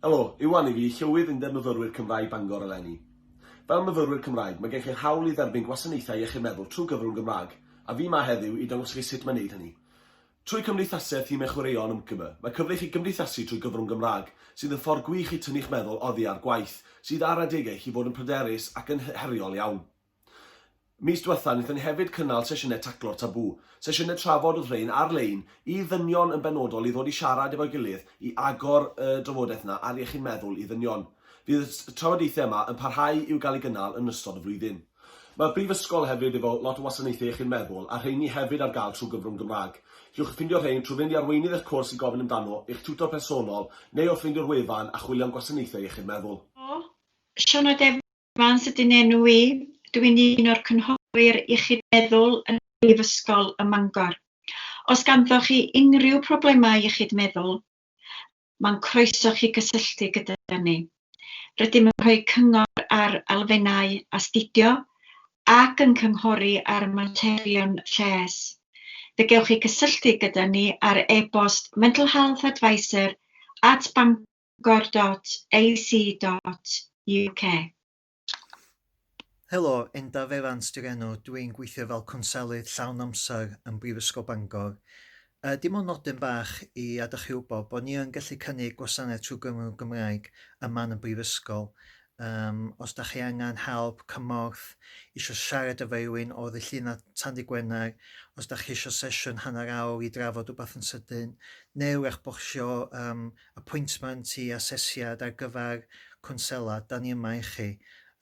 Helo, Iwan i fi, Llywydd Undeb Myfyrwyr Cymraeg Bangor eleni. Fel myfyrwyr Cymraeg, mae gennych yr hawl i dderbyn gwasanaethau iechyd meddwl trwy gyfrwng Gymraeg, a fi 'ma heddiw i dangos i chi sut mae wneud hynny. Trwy cymdeithasu a thimau chwaraeon ymgym, mae cyfle i chi gymdeithasu trwy gyfrwng Gymraeg, sydd yn ffordd gwych i tynnu'ch meddwl oddi ar gwaith, sydd ar adegau i chi fod yn pryderus ac yn heriol iawn. Mis diwetha, wnaethon ni hefyd cynnal sesiynau Taclo'r Tabŵ, sesiynau trafod oedd rhein ar-lein i ddynion yn benodol i ddod i siarad efo'i gilydd i agor y drafodaeth 'na ar iechyd meddwl i ddynion. Fydd y trafodaethau yma yn parhau i'w gael eu gynnal yn ystod y flwyddyn. Mae'r Brifysgol hefyd efo lot o wasanaethau iechyd meddwl a rheini hefyd ar gael trwy gyfrwng Gymraeg. Cewch ffindio rhein trwy fynd i arweinydd eich cwrs i gofyn amdano, eich tiwtor personol neu wrth fynd i'r wefan a chwilio am gwasanaethau iechyd meddwl. Sioeau Defnyddiol Vance ydy'n enw i, dw i'n un o'r Cynghorwyr Iechyd Meddwl yn Brifysgol ym Mangor. Os ganddoch chi unrhyw problemau iechyd meddwl, mae'n croeso chi gysylltu gyda ni. Rydym yn rhoi cyngor ar elfennau astudio ac yn cynghori ar materion lles. Fe gewch chi gysylltu gyda ni ar e-bost mentalhealthadvisor at bangor.org.uk. bangor.ac.uk. Helo, Endaf Evans di'r enw, dw i'n gweithio fel cwnselydd llawn amser yn Brifysgol Bangor. Yy, dim ond nodyn bach i adal chi wybod bod ni yn gallu cynnig gwasanaeth trwy Gymru'n Gymraeg ym man y Brifysgol. Um, os da chi angen help, cymorth, eisiau siarad efo rhywun o ddillyna Tandy Gwener, os da chi eisiau sesiwn hanner awr i drafod rhywbeth yn sydyn, neu wrach bod chi eisiau um, apwyntment i asesiad ar gyfer cwnsela, da ni yma i chi,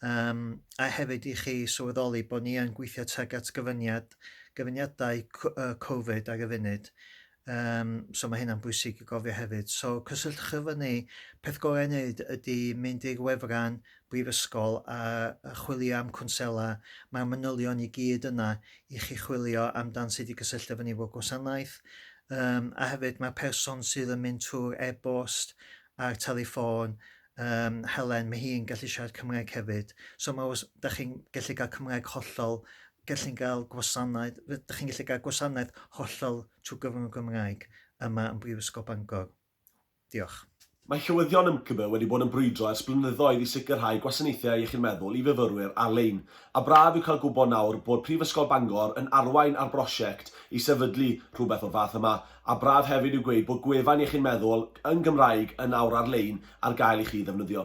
um, a hefyd i chi sylweddoli bod ni yn gweithio tuag at gyfyniad, gyfyniadau Covid ar y funud. Um, so mae hynna'n bwysig i gofio hefyd. So cysylltwch efo ni, peth gorau wneud ydy mynd i'r wefran Brifysgol a chwilio am cwnsela, mae'r manylion i gyd yna i chi chwilio amdan sut i gysylltu efo ni efo gwasanaeth. Um, a hefyd mae'r person sydd yn mynd trwy'r e-bost a'r telefon um, Helen, mae hi'n gallu siarad Cymraeg hefyd. So mae os da chi'n gallu cael Cymraeg hollol, gallu'n cael gwasanaeth, da chi'n gallu cael gwasanaeth hollol trwy gyfrwng y Gymraeg yma yn Brifysgol Bangor. Diolch. Mae Llywyddion YMCBE wedi bod yn brwydro ers blynyddoedd i sicrhau gwasanaethau iechyd meddwl i fyfyrwyr ar-lein, a braf yw cael gwybod nawr bod Prifysgol Bangor yn arwain ar brosiect i sefydlu rhywbeth o'r fath yma, a braf hefyd yw gweud bod gwefan iechyd meddwl yn Gymraeg yn awr ar-lein ar gael i chi ddefnyddio.